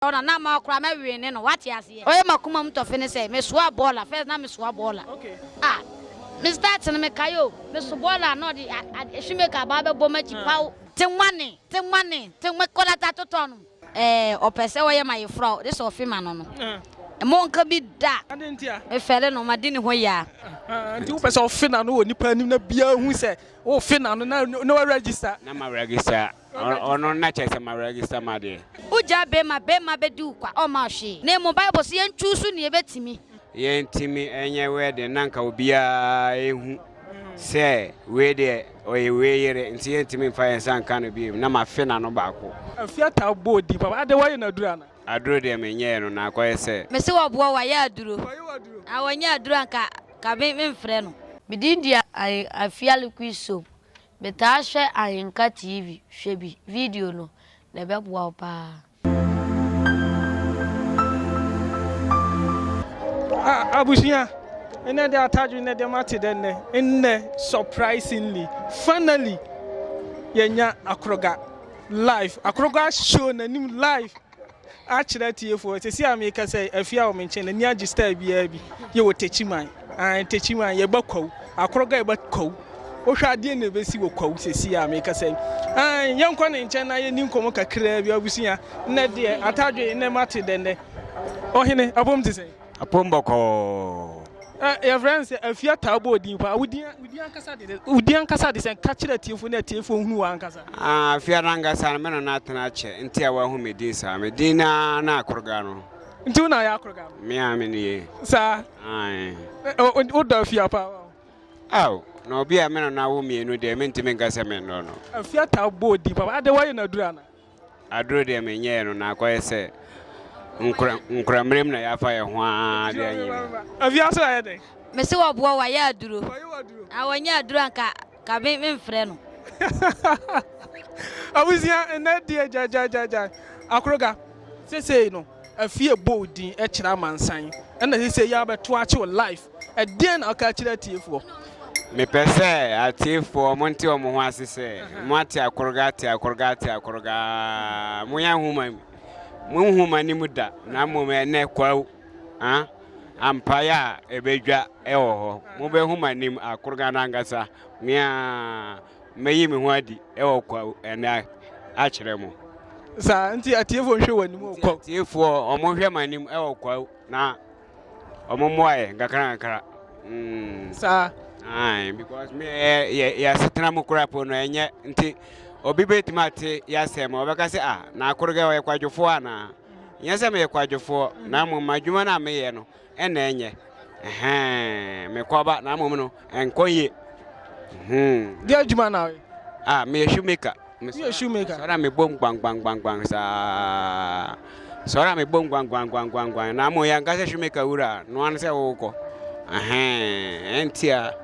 Ɔno a na ma koraa mɛwene no wate aseɛ. Ɔyɛ makoma mu tɔfe ne sɛ mesoa bɔɔla first na mesoa bɔɔla ah me start no mekae o meso bɔɔla na ɔde a shoemaker aba abɛbɔ makyi paw. Te wane te wane te me kɔlata totɔ no. Ɛɛ ɔpɛ sɛ ɔyɛ mayefra o de sɛ ɔfe ma no no mma ɔnka bi da me fɛre no madi ne hɔ yia. Ahaa nti wopɛ sɛ ɔfe n'ano wɔ nipa anim na biara hu sɛ wofe n'ano na na wa register. Na ma register Ɔno na kyerɛ sɛ ma register m'adeɛ. Wo gyaa bɛɛma, bɛɛma bɛdi wo kwa, ɔmma wo hwee. Na mmom Bible se yɛn choose nea ɛbɛtumi. Yɛn ntumi nyɛ wedding na nka obiara ɛhu sɛ wei deɛ ɔyɛ wei yere nti yɛn ntumi nfa yɛn nsa nka no biom na ma fe n'ano baako. Afie ataa bɔ din papa, adɛ wayɛ no aduro anaa? Aduro deɛ me nyɛɛ no na akɔyɛ sɛ. Me se wɔboɔ wayɛ aduro. Wayɛ wo aduro? Aah wɔnyɛ aduro a nka nka me mfrɛ no. Me din deɛ ayɛ Afia liquid soap Metaa hwɛ Ahenka TV, hwɛ bi, video no, na ɛbɛboa wo paa. Ah, abusua, ɛnɛ de atadwe nnɛ deɛ mate dɛ nnɛ. Nnɛ, surprisingly, finally, yɛnya akoroga live. Akoroga show n'anim live. akyerɛ atiefoɔ sɛsi a meekasa yi afie a wɔn nkyɛn n'ani agye style biara bi yɛ wɔ tekyiman an tekyiman yɛba kwawu akoroga yɛba kwawu wohwɛ adeɛ na ɛbɛsi wɔ kwawu sɛsi a meekasa yi an yɛnkɔ ne nkyɛn na yɛni nkɔmɔ kakraa bi abusua nnɛ deɛ atadwe nnɛ mate dɛndɛ ɔhene abom te sɛ Apom bɔkɔɔ. Ɛ, yɛfrɛ no sɛ afie ataa bɔ odin paa. Wo din, wo din ankasa de, wo din ankasa de sɛn? Ka kyerɛ atiefo na atiefo nhunu wo ankasa. Ah, afie no ankasa no, me na na atena akyɛ, nti a wɔahu me din saa. Me din no ara ne Akoroga no. Nti wo na ayɛ Akoroga no? Me ara me nie. Saa? Ae. Ɛ, o, o, wodɔ afie a paa o. Ao, na obi a me na no awo mmienu deɛ, mentumi nka sɛ mennɔ no. Afie ataa bɔ odin paa. Ade, woayɛ no aduru anaa? Aduro deɛ menyɛɛ no na akɔyɛ sɛ nkora nkorammerɛ mu na yɛafa yɛn ho ara de anyi me. Afiase ayɛ dɛn? Mese wɔboa wɔayɛ aduro. Wɔayɛ wo aduro? Ah, wɔnyɛ aduro anka ka me memfrɛ no. Abusua nnɛ deɛ gyaagyaagyaagyaa akoroga sesei no. Afie bɔ wo din kyerɛ amansan na sesei yi ara bɛto akye wo life. Ɛdeɛn na woka kyerɛ atiefoɔ? Mepɛ sɛ atiefoɔ monte wɔn ho ase sɛ moate akoroga ate akoroga ate akoroga aa mo yɛn nhoma mu mo nhoma ne mu da na mmom ɛnɛ kwaw ah ampaeɛ a ɛbɛdwa ɛwɔ hɔ mobɛhu m'anim akoroga no ankasa meaa mɛyi me ho adi wɔ kwa ɛnɛ akyerɛ mo. Saa nti atiefoɔ nhwɛ wɔn anim wɔ kwa. Atiefoɔ wɔn hwɛ wɔn anim wɔ kwa na wɔn mmoa yɛ nkakra nkakra. Mm. Saa. Ayi because me yɛ yɛ asetena mu kura po no ɛnyɛ nti obi bɛtumi ate yasɛm ɔbɛka sɛ ah na akoro kɛ ɔyɛ kwadwofoɔ anaa nyɛ sɛ meyɛ kwadwofoɔ na mmom adwuma no a meyɛ no Ɛna ɛnyɛ, ɛhɛɛn, me kɔba na mmom no, ɛnkɔ yie. Hmm. Deɛ adwuma na woyɛ? Ah, meyɛ shoemaker. Woyɛ shoemaker? Sɔre a mebom gbangbangbangbang saa. Sɔre a mebom gbangbangbangbang na mmom yɛnka sɛ shoemaker wura a, noa no sɛ wokɔ. Ɛhɛɛn, ɛnti a.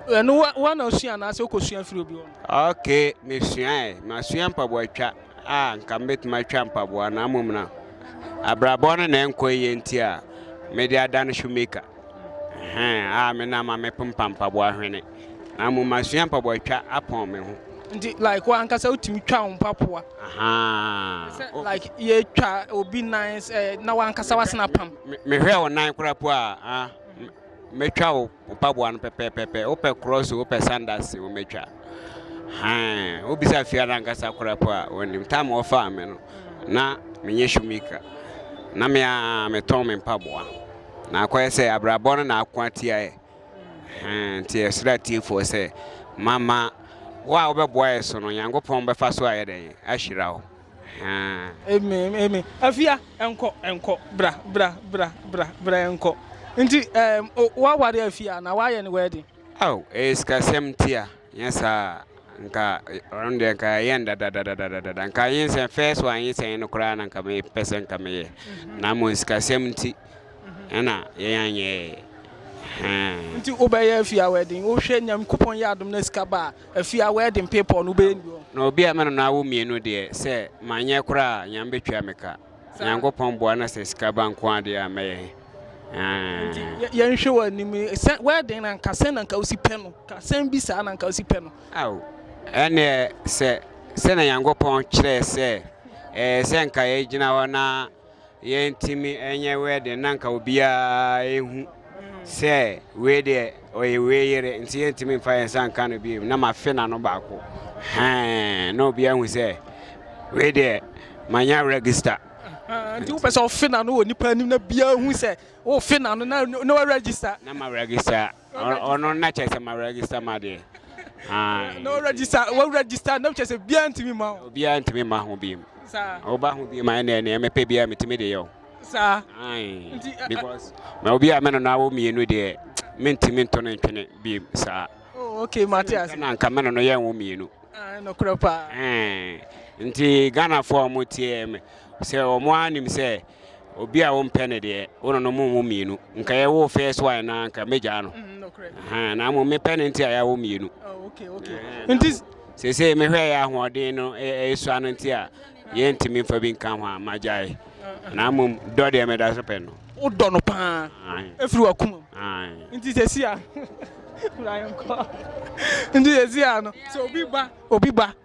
Ɛno wa na osua anaasɛ wokɔsua firi obi hɔ? Okay, mesuaɛ. Masua mpaboa twa. a anka mebɛtumi atwa mpaboa na mmom na abrabɔ no na ɛnkɔ yie nti a mede adane shoemaker a me na ma mepempa mpaboa hwene na mmom masua mpaboa twa apɔn me ho nti like wo ankasa wotumi twa wo mpaboa sɛ like yɛtwa obi nan eh, na wankasa wasena pam mehwɛ wo nan kora po a mɛtwa wo wo mpaboa no pɛpɛɛpɛpɛ wopɛ krɔs o wopɛ sandas o mɛtwa han wobisa fia no ankasa kora po a wɔnim tam wɔfaa me no na menyɛ shumika na me a metɔn me mpaboa na akɔyɛ sɛ abrabɔ no na ako atiaɛ nti ɛsrɛ atiefoɔ sɛ mama wo a wobɛboa yɛ so no nyankopɔn bɛfa so ayɛ dɛn ahyira wo Haa. Amen, amen. Afia, ɛnkɔ, ɛnkɔ, bra, bra, bra, bra, bra, ɛnkɔ. Nti, ɛɛm, o, woaware Afia na woayɛ ne wedding? Ao, ɛyɛ sikasɛm nti a, nyɛ saa a, nka, ɔno deɛ nka yɛayɛ no dadadadadadada. Nka nyinsɛn, first one nyinsɛn yi no koraa na nka mepɛ sɛ nka meyɛ. Na mmom sikasɛm nti ɛna yɛn anyɛɛ. Haa. Nti wobɛyɛ Afia wedding, wohwɛ Nyankopɔn yɛ adom na sika ba a, Afie a wedding paper no wobɛyɛ nni hɔ. Na obi a me ne no awo mmienu deɛ, sɛ manyɛ koraa a, Nyame bɛtua me ka. Nyankopɔn boa na sɛ sika ba nko ara deɛ a, mɛyɛ he? Nti Aah. yɛnhwɛ w'anim yi, sɛ wedding no anka sɛn na anka wosi pɛ no? Ka asɛm bi saa na anka wosi pɛ no? Ao, ɛnneɛ sɛ sɛdeɛ Nyankopɔn kyerɛɛ sɛ ɛyɛ sɛ anka yɛgyina hɔ na. Yɛntumi nyɛ wedding na nka obiara nhu sɛ wei deɛ ɔyɛ wei yere nti yɛntumi nfa yɛn nsa nka no bio na mafe na no baako hɛn na obiara hu sɛ wei deɛ manya register. Nti wopɛ sɛ ɔfe na no wɔ nipa anim na biara hu sɛ wofe na no na na wa register. Na ma register. Ɔno na kyerɛ sɛ ma register ma deɛ. Aye. No register, wo register na kyerɛ sɛ biara ntumi ma ho. Biara ntumi ma ho biem. Saa. Woba ho biem ayɛ nea nea mepɛ biara metumi de yɛ o. Saa. Aye. Because ma obi a mene no awo mmienu deɛ mentumi nto ne ntwene biem saa. Oh, okay, mate ase. Na nka mene no yɛ nwo mmienu. Ah, no korɛ paa. Eh. Nti Ghana fo a wɔn tie me sɛ wɔn anim sɛ Obi a wompɛ no deɛ, wo ne no mo mo mmienu. Nka yɛ wo first one na nka mɛgyaa no. Mm, na mo mepɛ no nti a yɛawo mmienu. Oh, okay, okay. Nti sese mehwɛ yɛ ahoɔden no ɛsua no nti a yɛntumi mfa bi nka ho a magyae. Na mo dɔ deɛ meda so pɛ no. Wodɔ no paa. Ɛfiri wakoma. Nti sese a. Nti sese a no. Sɛ obi ba, obi ba.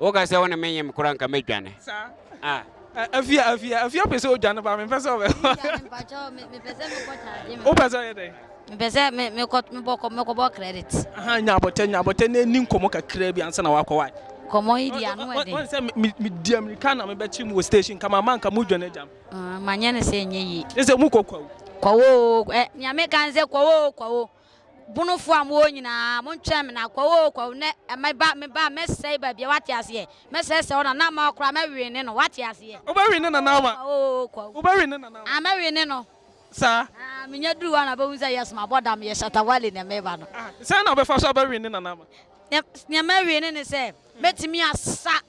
Woka sɛ wo ne me nyem kora nka mɛdwane. Ah. Afia, afia, afia pɛ sɛ odwane ba mempɛ sɛ ɔbɛ. Wopɛ sɛ ɔyɛ dɛn? Mepɛ sɛ me mekɔ mebɔ mekɔbɔ credit. Aha nya abɔtɛ nya abɔtɛ na ɛni nkɔmɔ kakra bi ansa na wakɔ wae. Kɔmɔ yi di ano ɛden. Wɔn sɛ me me di amirika na mebɛkye mu wɔ station nka ma ma nka mu dwane agya me. Manyɛ ne sɛ ɛnyɛ yie. Ne sɛ mu kɔ kwawu. Kwawu oo ɛ nea meka ne sɛ kwawu oo kwawu. Bonofoɔ a mowɔ nyinaa, montwɛn me na Kwawu oo Kwawu nnɛ me ba me ba mɛsɛe baabiara woate aseɛ? Mɛsɛesɛe wo nana ama koraa mɛwene no woate aseɛ? Wobɛwene ne nana ama? Kwawu oo Kwawu. Wobɛwene ne nana ama? Ah mɛwene no. Saa? Ah menya duru hɔ a na bɛhu sɛ yes mabɔ dam meyɛ Shatta Wale na meba no. Ah sɛn na wobɛfa so abɛwene ne nana ama? Nea mɛwene ne sɛ mɛtumi asa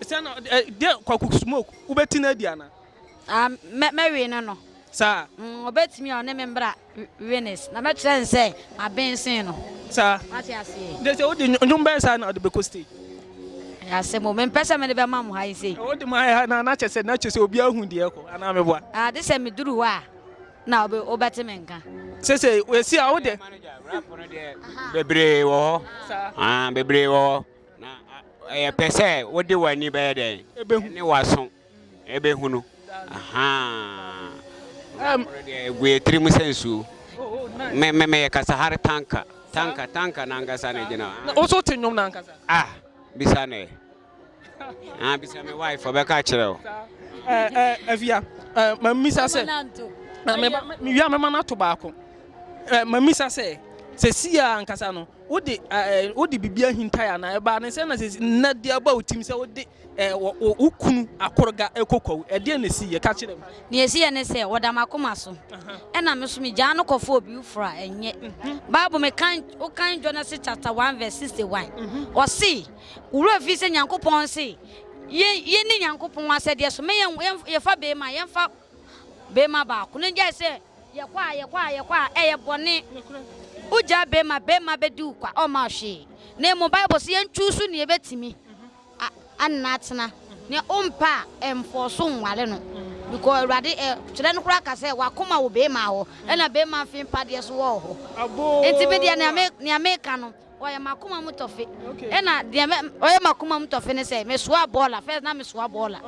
Sɛ na ɔde ɛ deɛ kwaku smoke wobɛti no adi anaa. Ah mɛ mɛwe no no. Saa. Mm ɔbɛtumi a ɔne me mbra Venice na mɛkyerɛ no sɛ maben sen no. Saa. Wate aseɛ. Nti sɛ wode nnwom bɛn saa na ɔde bɛkɔ stage. Ɛyɛ asɛm o mempɛ sɛ mede bɛma mo ha yi sei. Wode ma yɛ ha na na kyerɛ sɛ na kyerɛ sɛ obiara hu deɛ ɛkɔ anaa meboa. Ah gye sɛ meduru hɔ a na ɔbɛ wobɛte me nka. Sesei wasi a wode. Rap no deɛ bebree wɔ hɔ. Saa. Ah bebree wɔ hɔ. Na ɛyɛ pɛ sɛ wode w'ani bɛyɛ dɛn? Ebehu. Ne w'aso ebehu no. Ahaa. Ɛm. Ɔno deɛ egu yɛ tirim sɛ nsuo. Me me meyɛ Kasahare tanka. Tanka tanka n'ankasa na egyina hɔ. Na wo nso wote nnwom no ankasa? Ah, bisa no ɛ. Ah, bisa me wife ɔbɛka akyerɛ wo. Saa. Ɛɛ ɛɛ Afia, ɛɛ ma mmisa sɛ. Mɛma no ato. Mewia mɛma no ato baako. Ɛɛ ma mmisa sɛ, sɛsi ara ankasa no, Wode eh, wode biribi ahintae anaa? Ɛbaa ne sɛ na sɛ na de aba wo tim sɛ wode eh, wo kunu akorga ɛkɔ kwawu. Ɛdeɛ na ɛsi yɛ ka kyerɛ mu. Nea ɛsi yɛ ne sɛ wɔda m'akoma so. Ɛna me so megyaa no kɔfa obi foforɔ a ɛnyɛ. Bible me kan wo kan Genesis chapter 1 verse 61. Ɔse, wo werɛ fii sɛ Nyankopɔn se yɛni Nyankopɔn asɛdeɛ so. Me yɛfa beema, yɛmfa beema baako. Ne gyae sɛ Yɛkɔ a yɛkɔ a yɛkɔ a ɛyɛ bɔne. Wogyaa bɛɛma, bɛɛma bɛdi wo kwa, ɔmma wo hwee. Na mmom Bible se yɛn choose nea ɛbɛtumi anna atena. Nea wompɛ a ɛnfɔɔso nware no. Because Awurade ɛ, kyerɛ no koraa ka sɛ w'akoma wɔ bɛɛma hɔ, ɛna bɛɛma mfe mpadeɛ so wɔ hɔ. Nti me deɛ nea me, nea meka no. Ɔyɛ m'akoma mu tɔfe. Ɛna deɛ mɛ ɔyɛ m'akoma mu tɔfe ne sɛ mesoa bɔɔla first na mesoa bɔɔla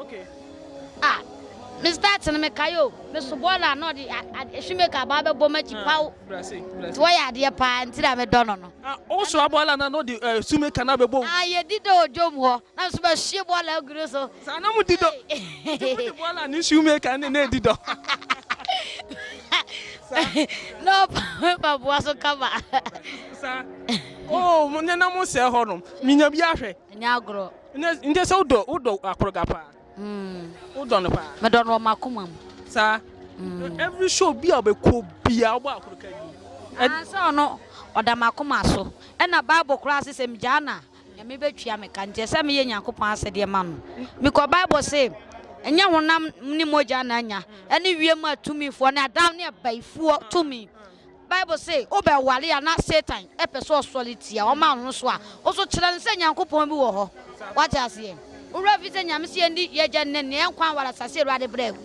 ah me start no mekae o meso bɔɔla na ɔde ehwimeka aba abɛbɔ m'akyi paw nti wɔyɛ adeɛ paa nti na medɔ no no. Wosoa bɔɔla na na ɔde ehwimeka no abɛbɔ wo. Ah yɛdi da odwom hɔ na nso mahwie bɔɔla agu ne so. Saa na mudi dɔ. Nti mode bɔɔla ne shoemaker ne na adi dɔ. Saa. Na ɔpa mpaboa so kama. Saa. Oo mo ne na mo sɛɛ hɔnom. Minya bi ahwɛ. Nyɛ agorɔ. Nɛ nkyɛ sɛ wodɔ wodɔ akoroga paa. Wodɔ no paa. Medɔ no wɔ m'akoma mu. Saa. Every show bi a ɔbɛkɔ biara wobɔ akoroga bi. Anaasɛ ɔno ɔda m'akoma so. Ɛna bible koraa se sɛ migyaa no a. Nyame bɛtua me ka, nti ɛsɛ meyɛ Nyankopɔn asɛdeɛ ma no. Bikɔ Bible se, Ɛnyɛ honam ne mogya na anya, ɛne wiem atumifoɔ ne Adam ne abaifuɔ tumi. Bible se, wobɛware a na Satan pɛ sɛ ɔsɔre tia wo, ɔma wo so a, wo nso kyerɛ no sɛ Nyankopɔn bi wɔ hɔ. Woate aseɛ? Wo werɛ mfi sɛ Nyame se yɛndi Y'agya ne N'ani, yɛn nkwa nware asase Awurade berɛ agu.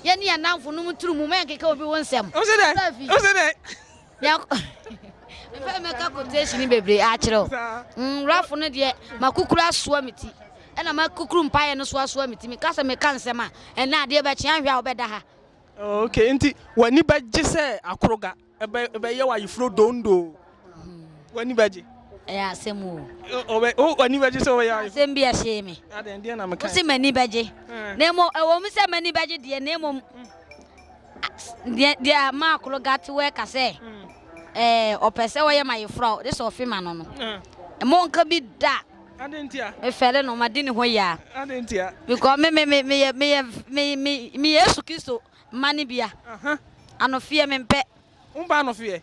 Yɛne yɛn nnamfonom nturu mu, mɛnkeka obi wo nsɛm. Wote aseɛ? mefɛ mɛka quotation bebree akyerɛ o nwurafo no deɛ makukuru asoa me ti ɛna makukuru mpaeɛ no so asoa me ti meka sɛ meka nsɛm a ɛnɛ adeɛ bɛkyea nhwɛ a wobɛda ha ok nti w'ani bɛgye sɛ akoroga ɛbɛyɛ wɔ ayefuro dondo w'ani bɛgye ɛyɛ asɛm o w'ani bɛgye sɛ wɔyɛ asɛm bi ɛhyee me wosi m'ani bɛgye na mmom ɛwɔ mu sɛ m'ani bɛgye deɛ na mmom Deɛ deɛ maa koro gate wɔ ɛka sɛ ɛɛ ɔpɛ sɛ ɔyɛ ma yefra o de sɛ ɔfe ma no no ɛmɔ nka bi da mefɛre no ma di ne hɔ yia because me me me meyɛ meyɛ me me me yesu kristo mma ne bia anofeɛ mempɛ. Wompa anofeɛ.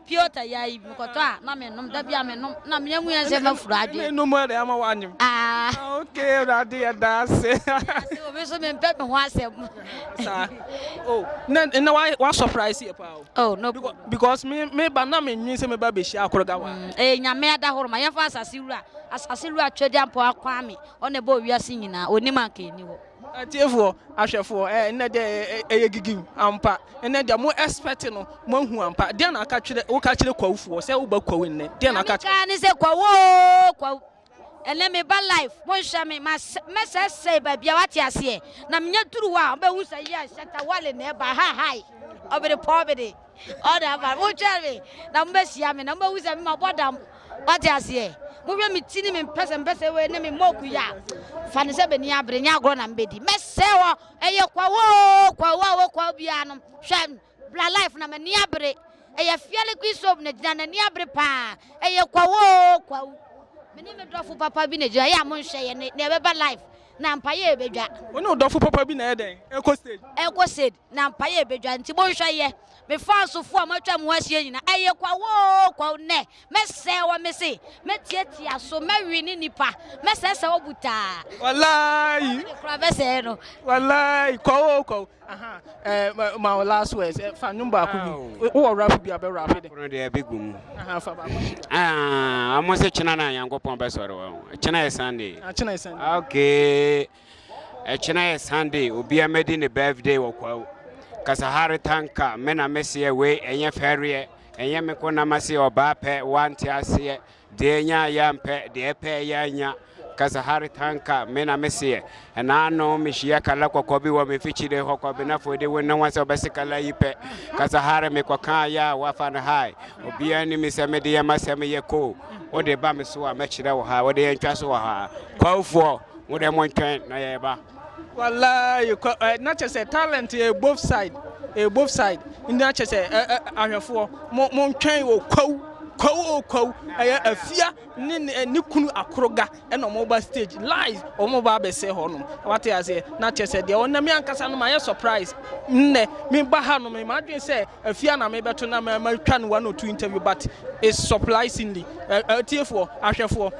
Piotr yae bi, mekɔtɔ a na menom, da bi a menom na mea mu yɛ sɛ mafuru adwene. Ɛna ɛnom ɛde ama w'anyem. Ah. ah okay, Awurade yɛ da ase. Ase obi so mempɛ me ho asɛm. Saa. Oh, na na wa wa surprise yɛ paa o. Oh, no problem. Because me me ba na me nwi sɛ me ba bɛhyia akoroga wa. Mm, eh nyame ada horo ma yɛmfa asase wura, asase wura twɛdi ampɔ akwame, ɔna ɛbɔ wiase nyinaa, onim anka ɛni hɔ. Atiefoɔ, ahwɛfoɔ, ɛɛ, nnɛ deɛ ɛyɛ, ɛyɛ, ɛyɛ gigim ampa. Nnɛ deɛ mo expect no, moahu ampa. Deɛn na aka kyerɛ, woka kyerɛ Kwawofoɔ sɛ woba Kwawo nnɛ? Deɛn na aka kyerɛ. Kaa ne sɛ, Kwawo oo, Kwawo, ɛnnɛ meba live, monhwɛ me, masɛ, mɛsɛesɛe baabi a, woate aseɛ? Na menya duru hɔ a, wobɛhu sɛ, yes, Shatta Wale na ɛreba, ha, hi, ɔbede pɔɔbede. Ɔda mpa no, motwɛn me na mobɛhyia me na mobɛhu sɛ mabɔ dam. Wate aseɛ? Mohwɛ me ti ne me mpɛsɛmpɛsɛ wei ne me mɔku yɛ a, fa no sɛ bɛni abere, nyɛ agorɔ na mobɛdi. Mɛsɛe hɔ, ɛyɛ kwawu oo, kwawu a ɔwɔ kwawu biara no, hwɛ, bra life na m'ani abere. Ɛyɛ Fia Liquid Soap na ɛgyina, n'ani abere paa, ɛyɛ kwawu oo, kwawu. Me ne me dɔfo papa bi na ɛgyina, ɛyɛ a monhwɛ yɛ ne, nea ɛbɛba life na mpa yɛ ɛbɛdwa. Wo ne wo dɔfo papa bi na ɛyɛ dɛn? Ɛrekɔ stage? Ɛrekɔ stage. na mpaeɛ ɛbɛdwa nti monhwɛ yɛ me fansfoɔ a moatwa mo ho ahyia nyina ɛyɛ kwawoo kwaw nɛ mɛsɛɛ wɔ me se mɛtiatia so mɛwe ne nipa mɛsɛsɛ wɔ butaa walayi ne kora mɛsɛɛ no walayi kwawoo kwaw aha ɛɛ ma wɔ last words eh, fa nnwom baako bi wowɔ rap bi a bɛ rap de kono deɛ ɛbɛgu mu aha fa baako ah, ɔmo se kyena na nyankopɔn bɛsɔre wɔ kyena yɛ sunday ah, kyena yɛ sunday ah, okay Ɛkyena yɛ Sunday obia mɛdi ne birthday wɔ kwawu Kasahare tanka me na meseɛ wei ɛnyɛ fɛreɛ ɛnyɛ me ko na maseɛ ɔbaa pɛ wante aseɛ deɛ nya ya mpɛ deɛ pɛ ya nya Kasahare tanka me na meseɛ ɛnaano mehyia kala kɔkɔ bi wɔ me fikyire hɔ kɔbenafoɔ de wo ne wɔn sɛ ɔbɛse kala yi pɛ Kasahare mekɔka ya a wafa no hae obia ni mi sɛ mede yɛ masɛm yɛ ko wode ba me so a mɛkyerɛ wɔ ha wode yɛ ntwa so wɔ ha kwawufoɔ Mo deɛ montwɛn na yɛreba. Walayi kɔ ɛ na kyɛ sɛ talent ɛ eh, both side ɛ eh, both side na kyɛ sɛ ɛ ɛ ahwɛfoɔ mo mo ntwɛn o kwawu kwawu o kwawu ɛyɛ afia ne ne ne kunu akoroga ɛna wɔn ba stage lies wɔn ba abɛsɛ hɔ nom wate aseɛ na kyɛ sɛ deɛ wɔn na mi ankasa no ma yɛ surprise nnɛ mi ba ha no mi ma adwene sɛ. Afie a na mebɛto na ma matwa no one or two interview but it's surprisingly atiefoɔ ahwɛfoɔ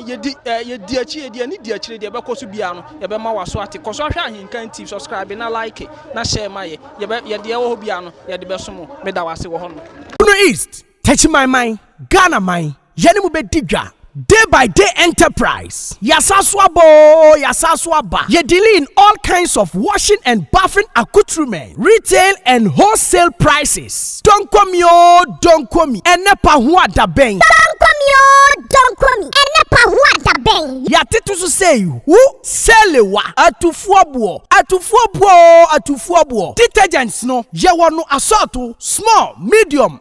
yɛdi yɛdi akyi yɛdi ani di akyire deɛ ɛbɛkɔ so biara no yɛbɛma waso ate kɔ so ahwɛ ahenkan tv subscribe na like na share ma yɛ yɛbɛ yɛdeɛ ɛwɔ hɔ biara no yɛde bɛso mo meda wase wɔ hɔ no. Bono East, Techimanman, Ghana man, yɛne mo bɛdi dwa, Day by Day Enterprise, yɛasan so aba oo, yɛasan so aba, yɛ dealing in all kinds of washing and bathing accoutrements, retail and wholesale prices, Donkomi oo, Donkomi, ɛnɛ pa ho a da bɛn? Donkomi oo, Donkomi, ɛnɛ pa ho a da bɛn? Yɛatete so sei, Hu, Selewa, Atufoɔ boɔ, Atufoɔ boɔ oo, Atufoɔ boɔ, Detergents no, yɛwɔ no asɔɔto, small, medium,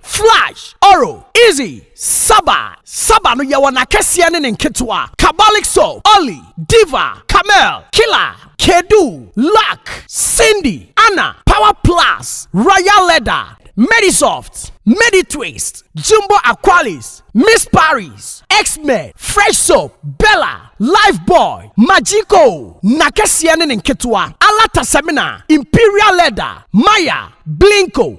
Flash, Oro, Izzy, Saba, Saba no yɛwɔ n'akɛseɛ ne ne nketewa, Kabalik Soap, Olly, Diva, Camel, Killer, Kedu, Luck, Cindy, Anna, Power Plus, Royal Leather, Medisoft, Meditwist, Jumbo Aqualis, Miss Paris, X-Men, Fresh Soap, Bella, Lifebuoy, Magico, n'akɛseɛ ne ne nketewa, Alata Semina, Imperial Leather, Maya, Blinko,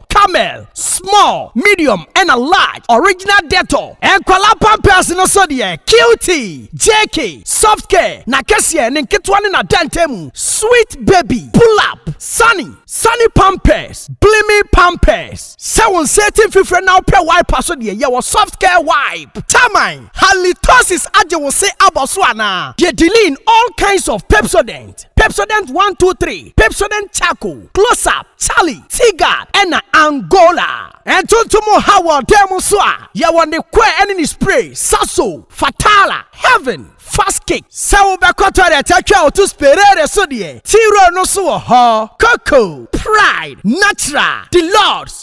Camel, small, medium ɛna large, original Dettol. Nkwadaa pampers no so deɛ, Cutie, JK, Soft Care, n'akɛseɛ, ne nketewa ne n'adantamu, Sweet Baby, Pull Up, Sunny, Sunny Pampers, Blimi Pampers. Sɛ wo nsa ati mfifire na wopɛ wiper so deɛ, yɛwɔ Soft Care Wipe. Taman, Halitosis agye wo se abɔ so anaa? Deɛ Deline, all kinds of Pepsodent. Pepsodent one two three, Pepsodent Charcoal, Close Up, Charlie, T-Guard, ɛna Angola. Ntontom ha wɔ dan mu nso a, yɛwɔ ne kɔɛ ɛne ne spray, Sasso, Fatala, Heaven, Fast Kick. Sɛ wobɛkɔ toilet atwa wo to Sperare so deɛ, T-Roll no nso wɔ hɔ. Coco, Pride, Natural, Deluxe,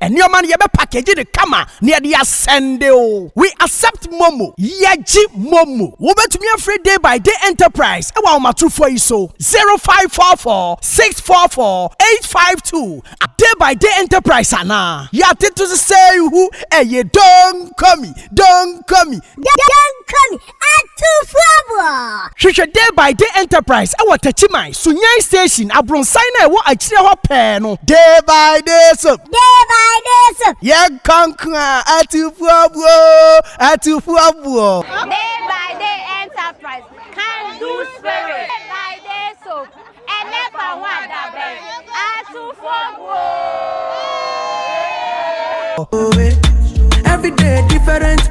Nneɛma no yɛbɛ package no kama na yɛde asɛnde o. We accept momo. Yɛgye momo. Wobɛtumi afrɛ Day by Day Enterprise ɛwɔ ahomatorofoɔ yi so, 0544 644 852 a Day by Day Enterprise anaa. Yɛatete so sɛ ihu ɛye Donkomi, Donkomi. Donkomi, Atufoɔ! Hwehwɛ Day by Day Enterprise wɔ Takyiman, Sunyani Station, abronsan no a ɛwɔ akyire hɔ pɛɛ no. Day by Day Soap. Day by Day Soap. Yɛnkɔ nko a, Atufoɔbuo! Atufoɔbuo! Day by Day Enterprise, Can Do Spirit. Day by Day Soap, Ɛnɛ fa ho adabɛn, Atufoɔbuo! Every day different.